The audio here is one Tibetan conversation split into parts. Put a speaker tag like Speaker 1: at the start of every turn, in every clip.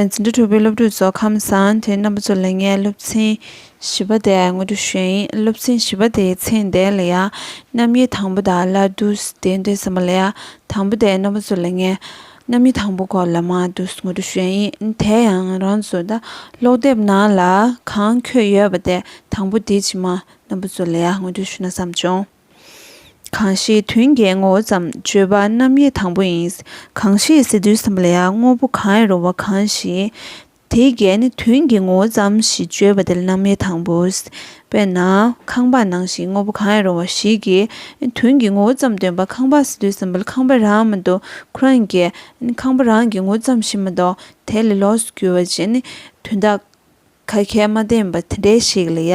Speaker 1: འཛིན་གྲྭ་དྲུག་པའི་སློབ་ཕྲུག་ཚོ་ཁམས་བཟང་དེའི་རྣམ་པ་ཚོ་ལས་ངས་སློབ་ཚན་བཞི་པ་དེ་ངོ་སྤྲོད་ཞུས་ཡིན་སློབ་ཚན་བཞི་པ་དེའི་ཚེག་འདས་ལ་ཡ་རྣམ་དབྱེ་དང་པོ་དང་སླར་བསྡུ་དེ་འདས་ཟིན་པ་ལ་ཡ་དང་པོ་དེའི་རྣམ་པ་ཚོ་ལས་ངས་རྣམ་དབྱེ་དང་པོ་སྐོར་ལ་མང་དུ་ངོ་སྤྲོད་ཞུས་ཡིན་དེ་ཡང་རང་ཚོ་ད་ཀློག་དེབ་ནང་ལ་གང་འཁོད་ཡོད་པ་དེ་དང་པོ་དེའི་ཕྱི་མ་རྣམ་པ་ཚོ་ལ་ཡ་ངོ་སྤྲོད་ཞུ་ན་བསམ་བྱུང། གང་ཞིག་དོན་གྱི་ངོ་བོ་ཙམ་བརྗོད་པ་རྣམ་དབྱེ་དང་པོ་ཡིན། གང་ཞིག་ཟེར་དུས་སམ་ལས་དངོས་པོ་གང་ཡང་རུང་བ་གང་ཞིག་དེའི་གལ་ནི་དོན་གྱི་ངོ་བོ་ཙམ་ཞེས་བརྗོད་པ་དེ་ལ་རྣམ་དབྱེ་དང་པོ། དཔེར་ན། ཁང་པ་ནང་ཞིག་དངོས་པོ་གང་ཡང་རུང་བ་ཞིག་གིས་དོན་གྱི་ངོ་བོ་ཙམ་སྟོན་པ་ཁང་པ་ཟེར་དུས་སམ་ལས་ཁང་པ་རང་མ་གཏོགས་ཁོ་རང་གི། ཁང་པ་རང་གི་ངོ་བོ་ཙམ་ཞིག་མ་གཏོགས་དེ་ལས་ལོགས་སུ་གྱུར་བ་ཅན་ནི་དོན་དག། ཁ་ཁས་མ་བདེན་པ་དེ་འདྲས་ཤིག་ལ་ཡ།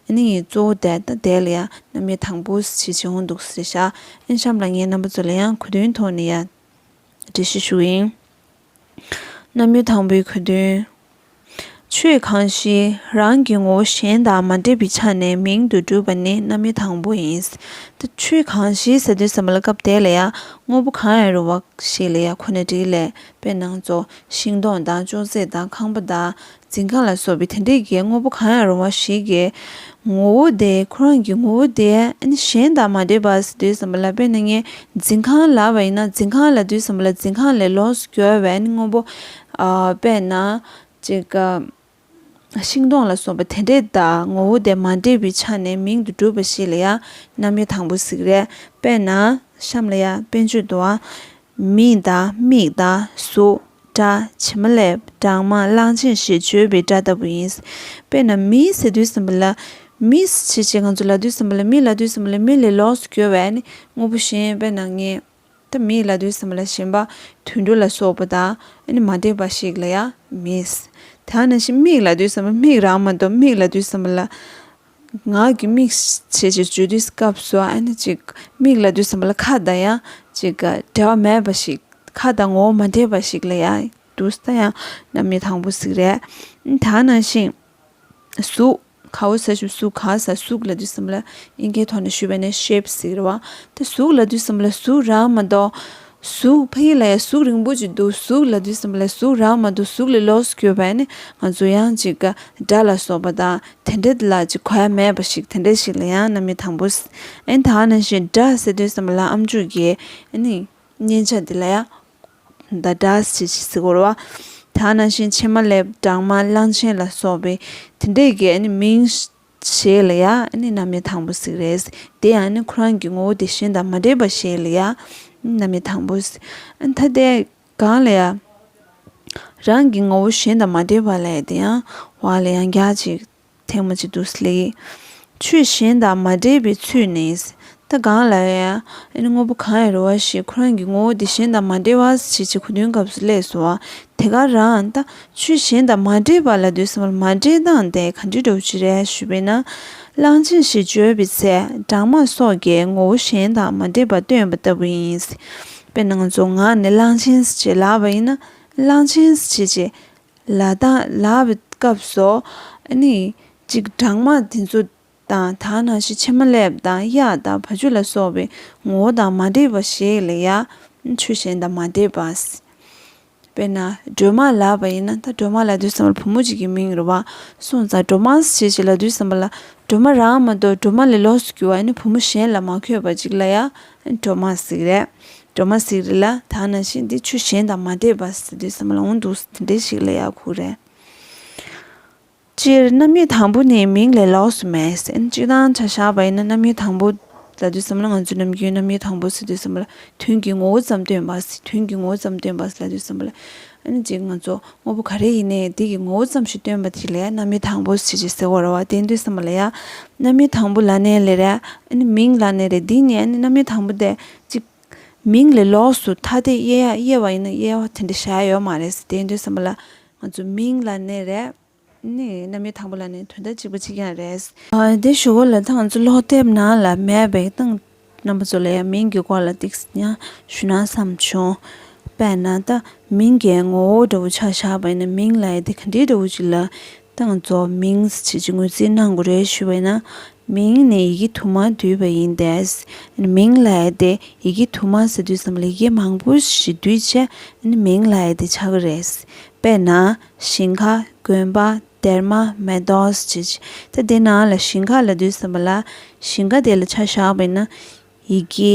Speaker 1: ཨིན་ཡིག་གཙོ་བོ་དེ་དང་དེ་ལ་ཡ་རྣམ་དབྱེ་དང་པོ་ཞིག་བྱེད་འོང་འདུག་ཟེར་ཤག་ཨིན་གཤམ་ལ་ངའི་རྣམ་པ་ཚོ་ལ་ཡང་གོ་དོན་ཐོག་ནས་ཡ། འགྲེལ་བཤད་ཞུ་ཨིན། རྣམ་དབྱེ་དང་པོའི་གོ་དོན། ཆོས་གང་ཞིག་རང་གི་ངོ་བོ་གཞན་དང་མ་འདྲེས་པའི་ཆ་ནས་མིང་དུ་གྲུབ་པ་ནི་རྣམ་དབྱེ་དང་པོ་ཡིན། ད་ཆོས་གང་ཞིག་ཟེར་དུས་ཟེར་མ་ལ་སྐབས་དེ་ལ་ཡ་དངོས་པོ་གང་ཡང་རུང་བ་ཞིག་ལ་ཡ་ཁོ་ནའི་དྲིས་ལས་དཔེར་ན་ཚོགས་ཤིང་སྡོང་དང་ཅོག་ཙེ་དང་ཁང་པ་དང་འཛིན་ཁང་ལ་སོགས་པའི་དེ་འདྲའི་གའི་དངོས་པོ་གང་ཡང་རུང་བ་ཞིག་གི་ངོ་བོ་དེ་ཁོ་རང་གི་ངོ་བོ་དེ་གཞན་དག་མ་འདོད་པར་སུ་འདོད་བསམ་པ་ལ་དཔེར་ན་ངའི་འཛིན་ཁང་ལ་བ་ཡིན་ན་འཛིན་ཁང་ལ་འདོད་བསམ་པ་ལ་འཛིན་ཁང་ལས་ལོགས་སུ་གྱུར་བའི་དངོས་པོ། དཔེར་ན། ཅེས་དགའ། ཤིང་སྡོང་ལ་སོགས་པ་དེ་འདྲའི་དག་ངོ་བོ་དེ་མ་འདྲེས་པའི་ཆ་ནས་མིང་དུ་གྲུབ་པ་ཞིག་ལ་ཡང་རྣམ་དབྱེ་དང་པོ་གཟིགས་རེས་དཔེར་ན། གཤམ་ལ་ཡང་དཔེར་བརྗོད་དུའང། མིང་དང་མིག་དང་གཟུགས་སྒྲ་ཇི་མ་ལས་གྲངས་མང་གླང་ཆེན་ཞེས་བརྗོད་པའི་སྒྲ་ལྟ་བུ་ཡིན། དཔེར་ན་མིའི་ཟེར་དུས་སེམས་པ་ལ་མིས་བྱེད་ཅེས་ང་ཚོ་ལ་དུས་སེམས་པ་ལ་མིས་ལ་དུས་སེམས་པ་ལ་མི་ལས་ལོགས་སུ་གྱུར་བས་ནི་དངོས་པོ་གཞན་དཔེར་ན་ངས་ད་མིས་ལ་དུས་སེམས་པ་ལ་ཞེན་པ་དུད་འགྲོ་ལ་སོགས་པ་དང་མ་འདྲེས་པ་ཞིག་ལ་ཡང་མིས་དེ་ཡང་ན་ཞིག་མིག་ལ་དུས་སེམས་པ་མིག་རང་མ་གཏོགས་མིག་ལ་དུས་སེམས་པ་ལ། ངག་གི་དམིགས་བྱེད་ཀྱི་བརྗོད་བསྡུས་སྐབས་སུ་ཨ་ནི་ཅིག། མིག་ལ་བསྡུས་ཟིན་པ་ལ་ཁ་དང་ཡང་ཅིག། འབྲེལ་བ་མེད་པ་ཞིག་ཁ་དང་ངོ་བོ་མ་འདྲེས་པ་ཞིག་ལ་ཡང་བསྡུ་ས་ཡང་ན་མི་དང་པོ་ཟིག་རེད། དག་སྣང་ཞིང། གཟུགས། ཁ་བོ་ས་ཞིང་གཟུགས་གང་ཟག་གཟུགས་ལ་བསྡུས་ཟིན་པ་ལ་དབྱིན་སྐད་ཐོག་ནས་ཞུས་པ་ནི་ཤེབ་ཟིག་རེད་བ། དེ་གཟུགས་ལ་བསྡུས་ཟིན་པ་ལ་གཟུགས་རང་མ་གཏོགས་གཟུགས་ཕ་ཡུལ་ལ་ཡང་གཟུགས་རིང་པོ་ཅིག་འདུག་གཟུགས་ལ་དུས་གསུམ་པ་ལ་གཟུགས་རག་མ་འདུག་གཟུགས་ལས་ལོགས་སུ་གྱུར་པ་ནི་ང་ཚོ་ཡང་ཅིག་ག་སྒྲ་ལ་སོགས་པ་དང་དེ་འདྲ་དེ་ལ་ཅིག་ག་ཡང་མེད་པ་ཞིག་དེ་འདྲ་ཞིག་ལ་ཡང་ན་མི་དང་པོ་ཨེ་དག་ན་ཞེས་སྒྲ་ཟེར་དུས་གསུམ་པ་ལ་ཨམ་ཅོག་གིས་ནི་མཉན་བྱ་དེ་ལ་ཡང་ད་སྒྲ་ཞེས་ཞེས་ཟེར་གོ་ར་བ་དག་ན་ཞེས་ཕྱེ་མ་ལེབ་སྦྲང་མ་གླང་ཆེན་ལ་སོགས་པའི་དེ་འདྲའི་གས་ནི་མིང་བྱས་ལ་ཡང་ནི་རྣམ་དབྱེ་དང་པོ་ཟིག་རེད། དེ་ཡང་ནི་ཁོ་རང་གི་ངོ་བོ་དེ་བཞིན་དང་མ་འདྲེས་པར་བྱས་ལ་ཡང་ནི་རྣམ་དབྱེ་དང་པོ་ཟིག། ཐ་དད་གང་ལ་ཡང་རང་གི་ངོ་བོ་གཞན་དང་མ་འདྲེས་པ་ལས་དེ་ཡང་བ་ལ་ཡང་རྒྱ་གཅིག་ཐེངས་མ་གཅིག་ཏུ་ཟློས། ཆོས་གཞན་དང་མ་འདྲེས་པའི་ཚུལ་ནི་ད་གང་ལ་ཡ། ཨེ་ནི་དངོས་པོ་གང་ཡང་རུང་བ་ཞིག་ཁོ་རང་གི་ངོ་བོ་དེ་གཞན་དང་མ་འདྲེས་པ་ཇི་བྱས་གོ་དོན་སྐབས་སུ་ལས་སོ། དེ་ག་རང་ད། ཆོས་གཞན་དང་མ་འདྲེས་པ་ལ་འདོད་སྲིད་མོད་མ་འདྲེས་སྟངས་དེ་ག་འདྲི་འདྲོག་ཅི་རེད་ཞུས་པས་ན། གླང་ཆེན་ཞེས་བརྗོད་པའི་ཚེ་སྦྲང་མ་སོགས་ཀྱི་ངོ་བོ་གཞན་དང་མ་འདྲེས་པ་སྟོན་པ་ལྟ་བུ་ཡིན། དཔེར་ན་ང་ཚོ་ངག་ནས་གླང་ཆེན་ཞེས་ལབ་པ་ཡིན་ན། གླང་ཆེན་ཞེས་ཀྱི། ལ་དང་ལབ་པའི་སྐབས་སུ། ཨེ་ནི། གཅིག་སྦྲང་མ་དེ་ཚོ། དང་དག་སྣང་བཞི་ཕྱི་མ་སླེབ་དང་གཡག་དང་བ་ཆུ་ལ་སོགས་པའི་ངོ་བོ་དང་མ་འདྲེས་པ་ཞིག་ལ་ཡང་ཆོས་གཞན་དང་མ་འདྲེས་པ། དཔེར་ན་སྒྲོལ་མ་ལགས་པ་ཡིན་ན་ད་སྒྲོལ་མ་ལ་དུས་བསམ་པར་བུ་མོ་ཅིག་གི་མིང་རུ་བ་སོང་ཙང་སྒྲོལ་མའས་བྱས་བྱས་ལ་དུས་བསམ་པ་ལ་སྒྲོལ་མ་རང་མ་གཏོགས་སྒྲོལ་མ་ལས་ལོགས་སུ་གྱུར་བ་ཡིན་ན་བུ་མོ་གཞན་ལ་མ་འཁོད་པ་ཅིག་ལ་ཡང་སྒྲོལ་མ་ཟིག་རེད། སྒྲོལ་མ་ཟིག་རེད་ལ་དག་སྣང་བཞི་འདི་ཆོས་གཞན་དང་མ་འདྲེས་པ་ཟེར་དུས་བསམ་པ་ལ་འོང་འདུག་དེ་འདྲའི་ཞིག་ལ་ཡག་ཁུག་རེད། སྤྱིར་རྣམ་དབྱེ་དང་པོ་ནི་མིང་ལས་ལོགས་སུ་མེད་ཟིན་གཅིག་དང་ཆ་བཞག་པ་ཡིན་ན་རྣམ་དབྱེ་དང་པོ་ལ་དུས་སམ་ལ་ང་ཚོས་ནམ་རྒྱུན་རྣམ་དབྱེ་དང་པོ་སེ་དུས་སམ་ལ་དོན་གྱི་ངོ་བོ་ཙམ་སྟོན་པ་སེ་དོན་གྱི་ངོ་བོ་ཙམ་སྟོན་པ་སེ་ལ་དུས་སམ་ལ་ཨན་ཅིག་ང་ཚོ་དངོས་པོ་ག་རེ་ཡིན་ནའི་དེ་གི་ངོ་བོ་ཙམ་ཞིག་སྟོན་པ་དེ་ལས་རྣམ་དབྱེ་དང་པོ་སེ་ཞེས་ཟེར་བ་རོ་བ་དེ་དུས་སམ་ལ་ཡ། རྣམ་དབྱེ་དང་པོ་ལ་ནི་ལས་རེད་ཨན་མིང་ལ་ནི་རེད་འདི་གཉིས་ཨན་རྣམ་དབྱེ་དང་པོ་སྟེ་གཅིག། མིང་ལས་ལོགས་སུ་ཐ་དད་དབྱེ་ཡ་དབྱེ་བ་ཡིན་ན་དབྱེ་བ་དེ་འདྲ་བྱ་ཡ་ཡོད་མ་རེད་སེ་དེ་དུས་སམ་ལ་ང་ཚོ་མིང་ལ་ནི་རེད། ནི་རྣམ་དབྱེ་དང་པོ་ལ་ནི་དོན་དག་གཅིག་པ་གཅིག་ཀྱང་རེད། དེ་ཞུ་བ་ལ་ཐང་ཚོ་ལོག་དེབ་ནང་ལ་མེད་པའི་སྟངས་རྣམ་པ་ཚོ་ལ་ཡང་མིང་གི་སྐོར་ལ་ཏིག་ཀྱང་ཞུ་ན་བསམ་བྱུང། དཔེར་ན་ད་མིང་གི་ངོ་བོ་འདྲ་བོ་ཆགས་བཞག་པ་ཡིན་ན་མིང་ལ་ཡི་དེ་ག་འདྲའི་འདྲ་བོ་ཅིག་ལ་ཏང་ཚོགས་མིང་བྱེད་ཀྱི་ངོས་འཛིན་གནང་དགོས་རེད་ཞུ་བས་ན་མིང་ནི་ཡི་གེ་དུ་མ་འདུས་པ་ཡིན་ཏེ། མིང་ལ་ཡི་དེ་ཡི་གེ་དུ་མ་ཟེར་དུས་སམ་ལ་ཡི་གེ་མང་པོ་ཞིག་འདུས་ཆེ་མིང་ལ་ཡི་དེ་ཆགས་ཀྱི་རེད། དཔེར་ན། ཞིང་ཁ། དགོན་པ། སྡེར་མ། མེ་ཏོག་སོགས་ཀྱི་ཚེ་དེ་ནང་ལ་ཞིང་ཁ་ལ་འདུས་སམ་ལ་ཞིང་ཁ་དེ་ལ་ཆ་བཞག་པས་ན་ཡི་གེ་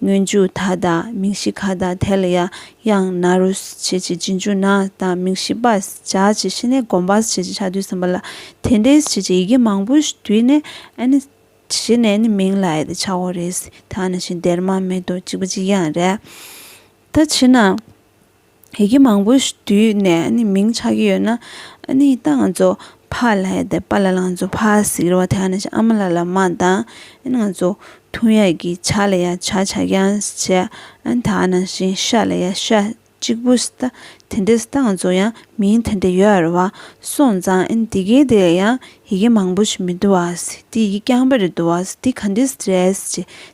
Speaker 1: སྔོན་འཇུག་ད་དང་མིང་གཞི་ག་དང་དེ་ལ་ཡང་ཡང་ན་རུ་བྱེད་ཀྱི་རྗེས་འཇུག་ན་དང་མིང་གཞི་པ་བྱ་ཀྱི་ཤི་ནས་བསྒོམ་པ་བྱེད་ཀྱི་ཆ་དུས་གསུམ་པ་ལ་དེ་འདྲའི་བྱེད་ཀྱི་ཡི་གེ་མང་པོ་བསྡུས་ནས་ནི་གཞི་ནས་ནི་མིང་ལ་ཡི་དེ་བྱའོ་རེད་ད་ནི་ཤིང་དེར་མ་མེད་དོ་གཅིག་པ་གཅིག་ཡང་རེད་ད་ཕྱིན་ན། ཡི་གེ་མང་པོ་ཞིག་བསྡུས་ནས་མིང་ཆགས་ཀྱི་ཡོད་ན་ད་ང་ཚོ་ཕ་ལ་ཡ་དེ་པ་ལ་ལ་ང་ཚོ་ཕ་ཟིག་རོ་དེ་ནས་ཨ་མ་ལ་ལ་མ་དང་ང་ཚོ་ཐུ་ཡ་གི་ཆ་ལ་ཡ་ཆ་ཆ་རྐྱང་བྱས་ད་ནང་བཞིན་ཤ་ལ་ཡ་ཤ་གཅིག་པུ་ད་དེ་འདྲས་ད་ང་ཚོ་ཡང་མིང་དེ་འདྲས་ཡོད་རེད་བ་སོང་ཙང་དེ་གའི་དེ་ལ་ཡང་ཡི་གེ་མང་པོ་ཞིག་མི་བསྡུ་བ། འདི་ཡི་གེ་རྐྱང་པ་རེ་བསྡུ་བ། འདི་ག་འདི་རེད།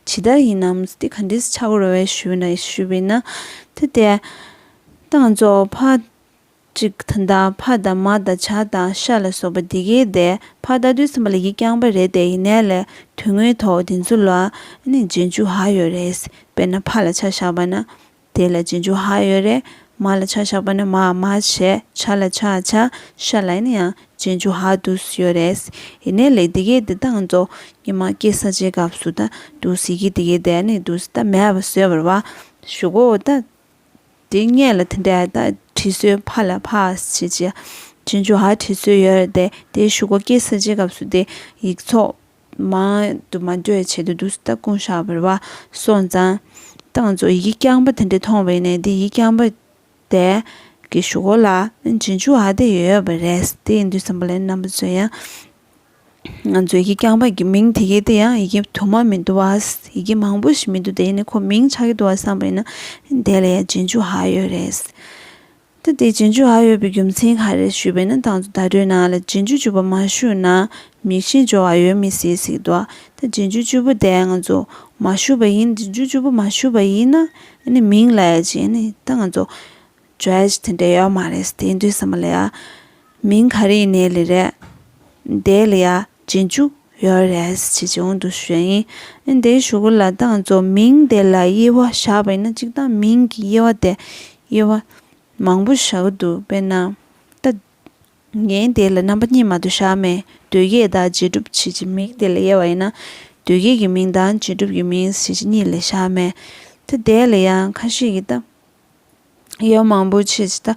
Speaker 1: ཇི་ལྟར་ཡིན་ནམ། འདི་ག་འདི་ཆག་གོ་རེ་བའི་ཞུས་ན་ཞུས་པས་ན། དེ་ལྟའི། དང་གཙོ་བོ་ཕ། གཅིག་དང་དང་ཕ་དང་མ་དང་བྱ་དང་ཤ་ལ་སོགས་པ་འདི་གའི་སྡེ། ཕ་རྟག་ཏུ་སེམས་པ་ལ་ཡིག་རྐྱང་པ་རེ་དེ་ཡི་ནས་ལས་དོན་དངོས་ཐོག་འདི་ཚོ་ལ། ནི་རྗེས་འཇུག་ཧ་ཡོད་རེད། དཔེར་ན་ཕ་ལ་ཆ་བཞག་པ་ན། དེ་ལ་རྗེས་འཇུག་ཧ་ཡོད་རེད། མ་ལ་ཆ་བཞག་པ་ནི་མ་མ་བྱས། ཆ་ལ་ཆ་བྱ། ཤ་ལ་ཡིན་ན་ཡང་རྗེས་འཇུག་ཧ་དུ་སུ་ཡོད་རེད། ཡིན་ནའི་ལེགས་དེ་གས་དེ་བཏང་རྫོགས། ཉི་མ་སྐྱེས་ས་ཆའི་སྐབས་སུ་ད་དུ་སི་གིས་དེ་གས་དེ་ནི་དུ་སི་ད་མས་བ་བཟོས་པར་བ་ཞུ་གོ་ད། དེ་སྔས་ལ་དེ་འདྲ་ད་བྲིས་སོའི་ཕ་ལ་ཕ་ཞེས་བྱས། རྗེས་འཇུག་ཧ་བྲིས་སོའི་ཡོད་རེད་དེ་དེ་ཞུ་གོ་སྐྱེས་ས་ཆའི་སྐབས་སུ་དེ་ཡིག་ཚོགས། མ། དུ་མ་འདོད་ཆེད་དུ་དུག་ལྟ་ཀུན་བཤགས་པར་བ། སོགས་མཛངས། གཏང་རྫོགས་ཡི་གེ་རྐྱང་པ་དེ་འདྲ་མཐོང་བས་ནས་འདི་ཡི་རྐྱང་པ། དད། ཀྱི་ཞུ་སྒོ་ལ། རྗེས་འཇུག་ཨ་དད་ཡོད་ཡོད་པ་རེད། དེ་ཡི་འདུས་བསམ་པ་ལས་རྣམ་པ་མཛོད་ཡང། མཛོད་ཀྱི་རྐྱང་པ་གི་མིང་དེ་གའི་དེ་ཡང་ཡི་གེ་དུ་མ་མི་འདུ་བ། ཡི་གེ་མང་པོ་ཞིག་མི་འདུ་དེ་ཡི་ནི་ཁོ་མིང་ཆགས་ཀྱི་འདུ་བ་བསམ་པ་ཡིན་ན། དེ་ལ་ཡང་རྗེས་འཇུག་ཧ་ཡོད་རེད། ད་ལྟའི་རྗེས་འཇུག་ཨ་ཡོད་པའི་རྒྱུ་མཚན་ག་རེ་ཞུས་པས་ན་དང་དུ་བརྡ་སྤྲོད་ནང་ལ་རྗེས་འཇུག་བཅུ་པོ་མ་ཞུས་ན་མིག་ཤེལ་སྦྱོར་བ་ཡོད་མི་སྲིད་ཟིག་འདུག་ད་རྗེས་འཇུག་བཅུ་པོ་དེ་ང་ཚོ་མ་ཞུས་པ་ཡིན་རྗེས་འཇུག་བཅུ་པོ་མ་ཞུས་པ་ཡིན་ན་ནི་མིང་ལ་ཡ་ཅི་ནི་ད་ང་ཚོ Judge དེ་འདྲ་ཡོད་མ་རེད་དེ་འདུས་ས་མ་ལ་ཡ་མིང་ག་རེ་ཡིན་ནའི་ལི་རེད་དེའི་ལི་ཡ་རྗེས་འཇུག་ཡོད་རེད་ཅེས་བྱུང་འདུག་ཞུས་ཡིན་ཨེ་འདི་ཞུ་གི་ལ་དྭགས་རྫོ་མིང་དེ་ལ་དབྱེ་བ་བཞག་པ་ཡིན་ན་གཅིག་དང་མིང་གི་དབྱེ་བ་དེ་དབྱེ་བ་མང་པོ་བཞག་གི་འདུག་དཔེར་ན་ད་ངས་དེ་ལ་རྣམ་པ་གཉིས་མ་དུ་བཞག་མེད་དུས་བརྒྱད་དང་རྗེས་གྲུབ་བྱེད་ཀྱི་མིང་དེ་ལ་དབྱེ་བ་ཡིན་ན་དུས་བརྒྱད་ཀྱི་མིང་དང་རྗེས་གྲུབ་ཀྱི་མིང་བྱེད་ཀྱི་གཉིས་ལས་བཞག་མེད་དེ་དེ་ལ་ཡང་ཁ་ཤས་ཀྱིས་ད་དབྱེ་བ་མང་པོ་བྱེད་ཀྱི་ད་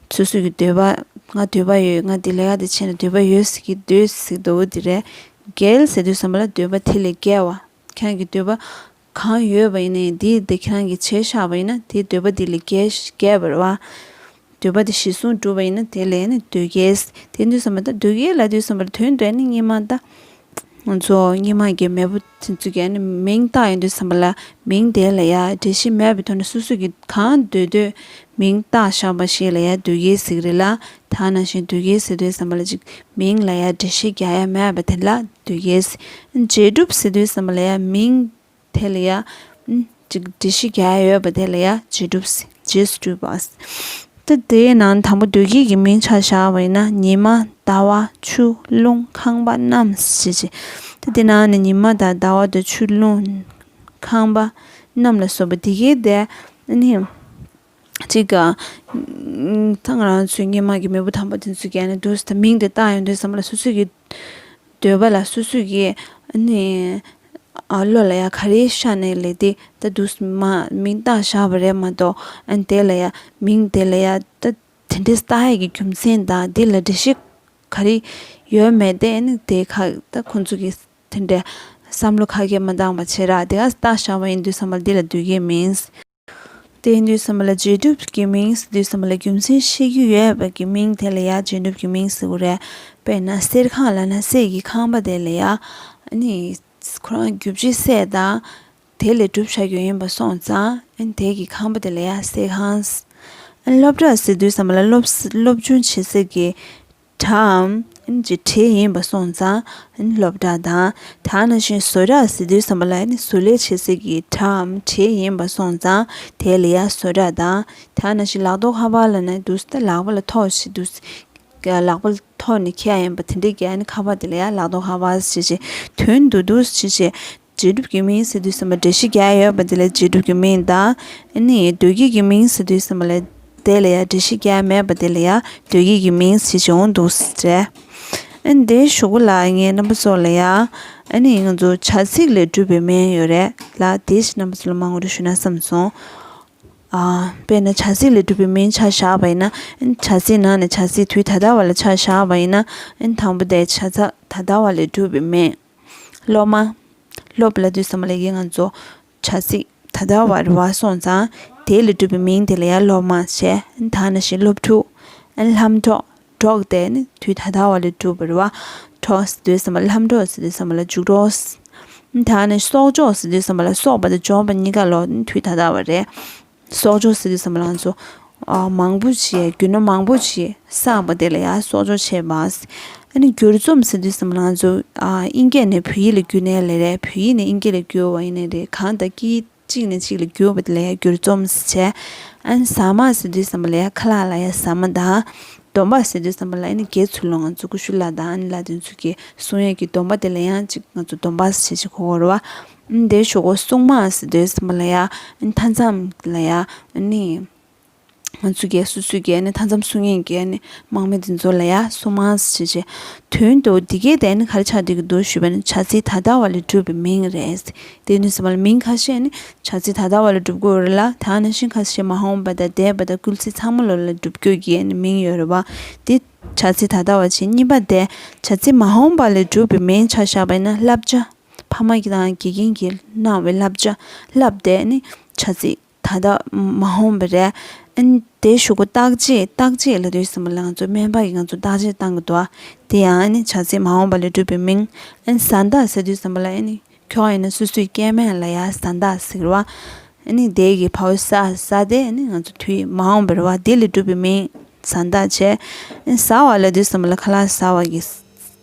Speaker 1: ཚོད་ཟོས་ཀྱི་འདོད་པ། ང་འདོད་པ་ཡོད་ང་འདི་ལས་ཀ་འདི་བྱས་ནས་འདོད་པ་ཡོད་ཟེར་གྱི་འདོད་ཟེར་གྱི་འདོད་བོ་དེ་རེད། འགལ་ཟེར་དུས་ཟམ་པ་ལ་འདོད་པ་དེ་ལས་འགལ་བ། ཁྱེད་རང་གི་འདོད་པ་གང་ཡོད་པ་ཡིན་ན་ཡང་དེ་ཡི་དེ་ཁྱེད་རང་གིས་བྱས་ཤག་པ་ཡིན་ན་དེ་འདོད་པ་དེ་ལས་འགལ་བར་བ། འདོད་པ་དེ་གཞི་བཟུང་བསྒྲུབ་པ་ཡིན་ན་དེ་ལས་ནི་འདོད་འགལ། དེ་འདོད་ཟམ་པ་ད་འདོད་འགལ་ལ་འདོད་ཟམ་པ་ལ་དོན་འདོད་ནི་གཉིས་མ་གདའ། ང་ཚོ་སྙེ་མ་གི་མེས་པོ་དེ་ཚོ་གི་མིང་བཏགས་ཡོང་དུས་བསམ་པ་ལ་མིང་དེ་ལ་ཡ་འབྲེལ་ཞིག་མེད་པའི་ཐོག་ནས་སོ་སོ་གི་གང་འདོད་འདོད་མིང་བཏགས་བཞག་པ་ཞིག་ལ་ཡ་དུས་ཀའི་གཟིགས་རེད་ལ་ད་ནང་བཞིན་དུས་ཀའི་ཟེར་དུས་བསམ་པ་ལ་ཅིག་མིང་ལ་ཡ་འབྲེལ་ཤིག་རྒྱག་ཡ་མེད་པ་དེ་ལ་དུས་ཀའི་ཟེར། འབྲས་སྒྲུབ་ཟེར་དུས་བསམ་པ་ལ་ཡ་མིང། དེ་ལ་ཡང། འདྲི་གཞི་བརྒྱ་ཡོད་པ་དེ་ལ་ཡང་རྗེས་སྒྲུབ། རྗེས་སུ་སྤྲུལ་པ། ཏེ་དེའི་ནང་དང་པོ་བདུད་བགེགས་ཀྱི་མིང་ཆ་བཞག་པ་ཡིན་ན་ཉི་མ་ཟླ་བ་ཆུ་རླུང་ཁང་པ་རྣམས་ཞེས་བྱའི། ཏེ་དེ་ནང་ནས་ཉི་མ་དང་ཟླ་བ་དང་ཆུ་རླུང། ཁང་པ་རྣམས་ལ་སོགས་པ་དེ་གའི་བརྡས། གཅིག་གི། ད་ང་རང་ཚོའི་སྙེ་མ་གི་མེས་པོ་དམ་པ་དེ་ཚོས་ཀྱང་ནི་འདུག་ད་མིང་དེ་བཏགས་ཡོང་དུས་བསམ་བློ་སོ་སོས་ཀྱི། འདོད་པ་ལ་སོ་སོས་ཀྱི། ནི། བློ་ལ་ཡང་ག་རེ་ཤར་ནས་ལས་དེ་ད་འདུག་མ་མིང་བཏགས་བཞག་པ་རེད་མ་གཏོགས་དེ་ལ་ཡང་མིང་དེ་ལ་ཡང་ད་དེ་འདྲའི་བཏགས་ཡས་ཀྱི་རྒྱུ་མཚན་དང་དེ་ལ་འགྲེལ་བཤད་ག་རེ་ཡོད་མེད་དེ་ནི་དེ་ཁ་ད་ཁོང་ཚོ་གི་དེ་འདྲའི་བསམ་བློ་ཁ་གས་མ་འདང་བ་ཆེ་ར་དེ་ག་བཏགས་བཞག་པ་ཡིན་དུས་བསམ་བློ་དེ་ལ་འདོད་ཀྱི་མིན། དེའི་འདུས་ཟིན་པ་ལ་རྗེས་གྲུབ་ཀྱི་མིང་སྲིད་འདུས་ཟིན་པ་ལ་རྒྱུ་མཚན་བཤད་རྒྱུ་ཡོད་པ་ཀྱི་མིང་དེ་ལ་ཡང་རྗེས་གྲུབ་ཀྱི་མིང་ཟེར་གོ་རེད། དཔེར་ན་གསེར་ཁང་ལ་ན་གསེར་གྱི་ཁང་པ་དེ་ལ་ཡང། ཁོ་རང་རྒྱུ་ཕྱི་གསལ་དང། དེ་ལས་གྲུབ་བྱ་རྒྱུ་ཡིན་པ་སོང་ཙང། དེ་གི་ཁང་པ་དེ་ལ་ཡང་གསེར་ཁང། སློབ་གྲྭ་སྲིད་འདུས་ཟིན་པ་ལ་སློབ་སྦྱོང་བྱེད་སའི་གྲྭ་གྲའམ། གྱི་གྲས་ཡིན་པ་སོང་ཙང་སློབ་གྲྭ་དང། དང་ན་གཞོན་བཟོ་གྲྭ་ཟེར་དུས་བསམ་པ་ལ་བཟོ་ལས་བྱེད་སའི་གི་གྲའམ་གྲས་ཡིན་པ་སོང་ཙང་དེ་ལ་ཡ་བཟོ་གྲྭ་དང། དང་ན་གཞོན་ལག་ཐོགས་ཧ་བ་ལ་ན་འདུག་སྟེ་ལག་པ་ལ་ཐོགས་ཞེས་འདུག་སྟེ། ལག་པ་ལ་ཐོགས་ནས་ཁྱེད་ཡིན་པ་དེ་འདྲའི་གི་ཁ་བ་དེ་ལ་ཡ་ལག་ཐོགས་ཧ་བ་ཞེས་བྱའི་དོན་དུ་འདུག་ཅེས་བྱའི་རྗེས་གྲུབ་ཀྱི་མིང་ཟེར་དུས་སེམས་པ་འདྲེ་བཞི་བརྒྱ་ཡོད་པ་དེ་ལས་རྗེས་གྲུབ་ཀྱི་མིང་དང། ནི། བདུད་བགེགས་ཀྱི་མིང་ཟེར་དུས་སེམས་པ་ལས་དེ་ལ་ཡང་འདྲེ་བཞི་བརྒྱ་མེད་པ་དེ་ལ་ཡང་བདུད་བགེགས་ཀྱི་མིང་ཟེར་གྱི་འོང་འདུག་ཟེར། འདི་ཞུ་གུ་ལགས་ངའི་རྣམ་པ་ཚོ་ལ་ཡང། ནི་ང་ཚོ་བྱ་ཚིག་ལས་གྲུབ་པའི་མིང་ཡོད་རེད་ལ་དེའི་ཕྱིར་རྣམ་པ་ཚོ་ལ་མ་དངུལ་རེ་ཞུ་ན་བསམ་སོང། དཔེར་ན་བྱ་ཚིག་ལས་གྲུབ་པའི་མིང་ཆ་བཞག་པ་ཡིན་ན། བྱ་ཚིག་ནང་ནས་བྱ་ཚིག་དུས་ད་ལྟ་བ་ལ་ཆ་བཞག་པ་ཡིན་ན། དང་པོ་དེ་བྱ་ཚག་ད་ལྟ་བ་ལས་གྲུབ་པའི་མིང། སློབ་མ། སློབ་ལ་དུས་སམ་ལེགས་ཀྱིས་ང་ཚོ་བྱ་ཚིག་ད་ལྟ་བར་བ་སོང་ཙང་དེ་ལས་གྲུབ་པའི་མིང་དེ་ལ་ཡང་སློབ་མ་ཞེས་ད་ནི་ཞེས་སློབ་ཕྲུག། ལྷམ་གྲོགས། གྲོགས་དེ་ནི་དུས་ད་ལྟ་བ་ལས་གྲུབ་པར་བ་གྲོགས་དུས་སམ་ལྷམ་གྲོགས་དུས་སམ་ལ་རྒྱུགས་གྲོགས། ད་ནི་གསོག་འཇོག་དུས་སམ་ལ་གསོག་པ་དང་འཇོག་པ་གཉིས་ཀ་ལོ་དུས་ད་ལྟ་བ་རེད། གསོག་འཇོག་ཟེར་གྱི་ཟ་མ་ལང་ཚོ་མང་པོ་བྱས་རྒྱུ་ནོར་མང་པོ་བྱས་བསགས་པ་དེ་ལ་ཡང་གསོག་འཇོག་བྱས་པ། ཨ་ནི་བསྒྱུར་རྩོམ་ཟེར་དུས་ཟ་མ་ལང་ཚོ་ཨིན་སྐད་ནས་བོད་ཡིག་ལ་བསྒྱུར་ནས་ལས་རེད་བོད་ཡིག་ནས་ཨིན་སྐད་ལ་བསྒྱུར་བ་ཡིན་ནི་རེད་གང་ལྟར་སྐད་ཡིག་གཅིག་ནས་གཅིག་ལ་བསྒྱུར་བ་དེ་ལ་ཡང་བསྒྱུར་རྩོམ་བྱས། ཨ་ནི་ཟ་མ་ཟེར་དུས་ཟ་མ་ལ་ཡང་ཁ་ལག་ལ་ཡང་ཟ་མ་དང། སྡོམ་པ་ཟེར་དུས་ཟ་མ་ལ་ཨ་ནི་རྒྱའི་ཚུལ་ལོ་ང་ཚོ་ཀུ་ཤུ་ལ་དང་ཨ་ནི་ལ་དེ་ཚུལ་གྱི་གསུང་ཡས་ཀྱི་སྡོམ་པ་དེ་ལ་ཡང་གཅིག་ང་ཚོ་སྡོམ་པ་ཟེར་གྱི་གོ་རོ་བ། འདིར་ཆོས་སྐུ་གསུང་མ་ཟིན་དུས་གསུམ་པ་ལ་ཡང་མཐའ་མཚམས་ལ་ཡང་ནི། ང་ཚོས་རྒྱལ་སྲིད་སྲོལ་རྒྱལ་ནི་མཐའ་མཚམས་སྲོལ་ངན་རྒྱལ་ནི་དམག་མི་འདི་ཚོ་ལ་ཡང་གསུང་མ་ཟིན་ཞེས་བྱའི་དོན་དུ་འདི་གའི་གདན་ནི་ག་རེ་ཆགས་འདོད་ཀྱི་འདུག་ཞུས་པས་ནི་བྱ་ཚིག་ད་ལྟ་བ་ལས་གྲུབ་པའི་མིང་རེད། དེ་ནས་གསུམ་པ་ལ་མིང་ཁ་ཤས་ནི་བྱ་ཚིག་ད་ལྟ་བ་ལས་གྲུབ་དགོས་རེད་ལ་ད་ནང་བཞིན་ཁ་ཤས་མ་འོངས་པ་དང་འདས་པ་དང་སྐུལ་ཚིག་ཚང་མ་ལོ་ལ་གྲུབ་དགོས་ཀྱི་ནི་མིང་ཡོད་རེད་བ། དེ་བྱ་ཚིག་ད་ལྟ་བ་བྱས་གཉིས་པ་དེ་བྱ་ཚིག་མ་འོངས་པ་ལས་གྲུབ་པའི་མིང་ཆགས་བཞག་པས་ན་བསླབ་བྱ། ཕ་མ་དང་དགེ་རྒན་གྱིས་གནང་བའི་བསླབ་བྱ་བསླབས་ཏེ་ནི་བྱ་ཚིག་ད་ལྟ་མ་འོངས་པ་རེད། དེ་ཞུ་སྒོ་བརྟག་དཔྱད་བརྟག་དཔྱད་ལ་དུས་ཟིན་པ་ལ་ང་ཚོས་སྨན་པ་ཡིས་ང་ཚོ་བརྟག་དཔྱད་བཏང་གི་འདུག་དེ་ཡང་ནི་བྱ་ཚིག་མ་འོངས་པ་ལས་གྲུབ་པའི་མིང། བཟའ་ཟླ་ཟེར་དུས་ཟམ་པ་ལ་ནི་ཁྱོད་ཡིན་ན་སུ་སུའི་སྐྱེས་དམན་ལ་ཡང་བཟའ་ཟླ་ཟེར་བ། ནི་དེ་གི་བར་བཟའ་བཟའ་དེ་ནི་ང་ཚོ་དུས་མ་འོངས་པའི་རེ་བ་དེ་ལས་གྲུབ་པའི་མིང་བཟའ་ཟླ་བྱས། བཟའ་བ་ལ་དུས་ཟིན་པ་ལ་ཁ་ལག་བཟའ་བ་གི་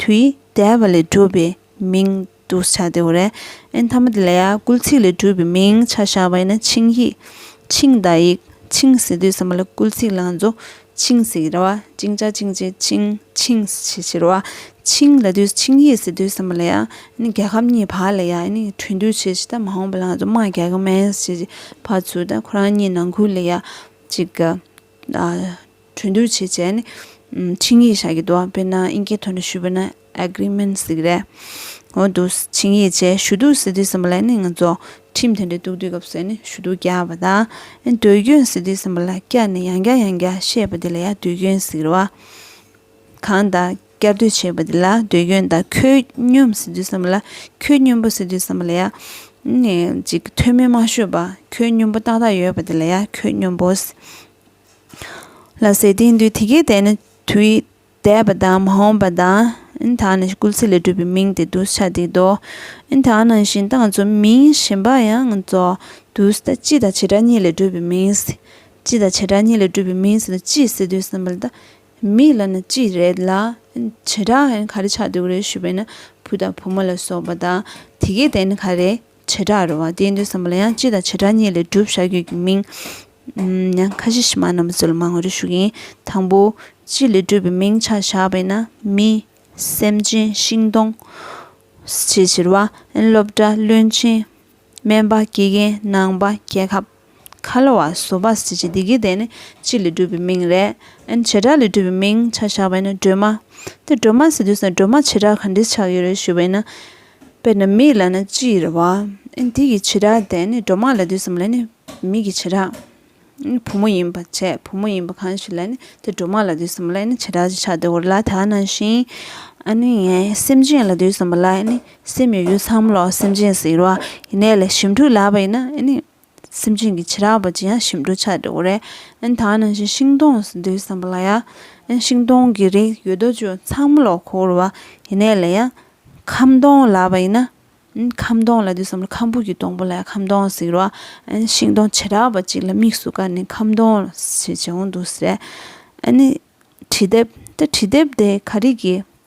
Speaker 1: དུས་འདས་པ་ལས་གྲུབ་པའི་མིང་དུ་བྱ་སྟེ་འོ་རེན་ཐ་མ་དེ་ལ་ཡང་སྐུལ་ཚིག་ལས་གྲུབ་པའི་མིང་ཆ་བཞག་པ་ཡིན་ན་ཆིངས་ཡིག། ཆིངས་བརྡ་ཡིག། ཆིངས་ཟེར་དུས་ཟེར་མ་ལ་སྐུལ་ཚིག་ལང་རྫོགས་ཆིངས་ཟེར་གྱི་ར་བ་ཅིང་ཅག་ཅིང་ཅེ་ཅིང་ཆིངས་ཞེས་བྱའི་ར་བ་ཆིངས་ལ་དུས་ཆིངས་ཡིག་ཟེར་དུས་ཟེར་མ་ལ་ཡང་རྒྱལ་ཁབ་གཉིས་བར་ལ་ཡང་གྲོས་འདུས་བྱས་ཞེས་དང་མ་འོངས་པ་ལང་རྫོགས་དམངས་རྒྱལ་ཁབ་མན་ཞེས་བྱའི་བར་ཚུལ་དང་ཁོ་རང་གཉིས་ནང་ཁུལ་ལ་ཡང་གཅིག་གི་གྲོས་བསྡུར་བྱེད་སྤྱད་ནི། ཆིངས་ཡིག་བཞག་གི་འདུག་དཔེར་ན་ཨིན་སྐད་ཐོག་ནས་ཞུས་པ་ན Agreement ཟེར་གྱི་རེད། འོ་འདུག་ཆིངས་ཡིག་བཅས་ཞུ་གཏུག་ཟེར་དུས་སེམས་པ་ལ་ནི་ང་ཚོ་ཁྲིམས་དེ་འདྲ་གཏུག་དུས་སྐབས་སུ་ནི་ཞུ་གཏུག་རྒྱག་པ་དང། དུས་རྒྱུན་ཟེར་དུས་སེམས་པ་ལ་སྐྱར་ནས་ཡང་བསྐྱར་ཡང་བསྐྱར་བཤད་པ་དེ་ལ་ཡང་དུས་རྒྱུན་ཟེར་བ། གང་ལྟར། བསྐྱར་ཟློས་བྱས་པ་དེ་ལ་ཟློས་སྐྱོན་དང་ཁྱོད་སྙོམས་ཟེར་དུས་བསམ་ལ་ཁྱོད་སྙོམས་པོ་ཟེར་དུས་བསམ་ལ་ཡ། ཅིག་ཐོན་མིས་མ་ཤོད་པ་ཁྱོད་སྙོམས་པོ་ཏག་ཏག་ཡོད་པ་དེ་ལ་ཡ་ཁྱོད་སྙོམས་པོ། ལ་ཟེར་དེའི་དུས་དེ་གའི་དེ་ནི་དུས་འདས་པ་དང་མ་འོངས་པ་དང། དག་ནི་སྐུལ་ཚིག་ལས་གྲུབ་པའི་མིང་སྟེ་དུས་ཆ་དེའི་མདོ། དག་ནང་བཞིན་སྟངས་གཙོ་མིང་གཞན་པ་ཡང་གཙོ། དུས་ད་ཅི་དང་བྱེ་བྲག་གཉིས་ལས་གྲུབ་པའི་མིང། ཅི་དང་བྱེ་བྲག་གཉིས་ལས་གྲུབ་པའི་མིང་ཟེར་དུས་ཅི་ཟེར་དུས་བསམ་ལ་ད་མི་ལ་ནི་ཅི་རེད་ལ། བྱེ་བྲག་ཧན་ག་རེ་ཆགས་འདུག་རེད་ཞུས་པས་ན་བུ་དང་བུ་མོ་ལ་སོགས་པ་དང་དེ་གའི་དེ་ནི་ག་རེ་བྱེ་བྲག་རེད་བ་དེའི་འདོད་བསམ་པ་ལ་ཡང་སྤྱི་དང་བྱེ་བྲག་གཉིས་ལས་བསྒྲུབ་བྱ་རྒྱུད་ཀྱི་མིང། ཡང་ཁ་ཤས་ཕྱི་མ་རྣམས་པ་ཚོ་ལ་མང་བ་རེ་ཞུ་གི་ཡིན་དང་པོ། སྤྱི་ལས་བསྒྲུབ་པའི་མིང་ཆ་བཞག་པས་ན་མི། སེམས་ཅན་ཤིང་སྡོང། ཞེས་བྱེར་བ། སློབ་གྲྭ་བློན་ཆེན། སྨན་པ་དགེ་རྒན་ནང་པ་རྒྱལ་ཁབ། ཁ་ལོ་བ་བཟོ་པ་ཟེར་བྱེད་འདི་གའི་དེ་ནི་སྤྱི་ལས་གྲུབ་པའི་མིང་རེད། ཨན་བྱེ་བྲག་ལས་གྲུབ་པའི་མིང་ཆ་བཞག་པས་ན་སྒྲོལ་མ། དེ་སྒྲོལ་མ་ཟེར་དུས་སུ་སྒྲོལ་མ་བྱེ་བྲག་ག་འདྲས་ཆགས་ཡོད་རེད་ཞུས་པས་ན། དཔེར་ན་མིག་ལ་ན་སྤྱིའི་རེད་བ། ཨན་དེ་གི་བྱེ་བྲག་དེ་ནི་སྒྲོལ་མ་ལ་དུས་སམ་ལ་ནི་མིག་གི་བྱེ་བྲག། ཨན་བུ་མོ་ཡིན་པ་བྱས་བུ་མོ་ཡིན་པ་གང་ཞིག་ལ་ནི་དེ་སྒྲོལ་མ་ལ་དུས་སམ་ལ་ནི་བྱེ་བྲག་ཅིག་ཆགས་འདུག་ལ་དྭགས་ན་བཞིན། ཨ་ནི་ངའི་སེམས་ཅན་ལ་དུས་སམ་ལ་ནི། སེམས་ཡོད་ཡོད་ཚང་མ་ལ་སེམས་ཅན་ཟེར་བ་ཡིན་ནའི་ལས་ཞིབ་འབྲུ་ལབ་པ་ཡིན་ན་ནི་སེམས་ཅན་གྱི་ཕྱི་རབས་པ་ཅི་ཡང་ཞིབ་འབྲུ་ཆགས་འགྲོ་གི་རེད་ད་ནང་བཞིན་ཤིང་སྡོང་སྡོད་བསམ་པ་ལ་ཡ་ཤིང་སྡོང་གི་རིགས་ཡོད་དོ་ཅོག་ཚང་མ་ལ་འཁོར་བ་ཡིན་ནའི་ལས་ཡང་ཁམ་སྡོང་ལབ་པ་ཡིན་ན་ཁམ་སྡོང་ལ་སྡོད་བསམ་ལ་ཁམ་བུ་གྱི་སྡོང་པོ་ལ་ཡང་ཁམ་སྡོང་ཟེར་བ་ཤིང་སྡོང་ཕྱི་རབས་པ་ཅིག་ལ་དམིགས་སུ་བཀར་ནས་ཁམ་སྡོང་ཞེས་བྱེད་འོང་འདུག་ཟེར་ཨ་ནི་བྲིས་དེབ་ད་བྲིས་དེབ་དེ་ག་རིགས་ཀྱི།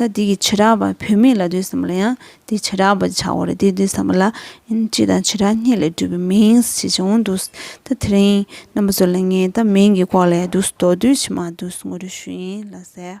Speaker 1: ད་དེ་གི་བྱེ་བྲག་པ་བུད་མེད་ལ་འདོད་བསམ་ལ་ཡང་དེའི་བྱེ་བྲག་པར་བྱའོ་རེ་དེའི་འདོད་བསམ་པ་ལ་ཡང་སྤྱི་དང་བྱེ་བྲག་གཉིས་ལས་གྲུབ་པའི་མིང་ཞེས་བྱ་བོང་དུག་ད་དེ་རིང་རྣམ་པ་ཚོ་ལ་ངས་ད་མིང་གི་སྐོར་ལས་དུག་ཟ་དོགས་དུས་ཕྱི་མ་དུག་ཟ་ངོ་རེ་ཞུ་ཡིན་ལ་ཟེར།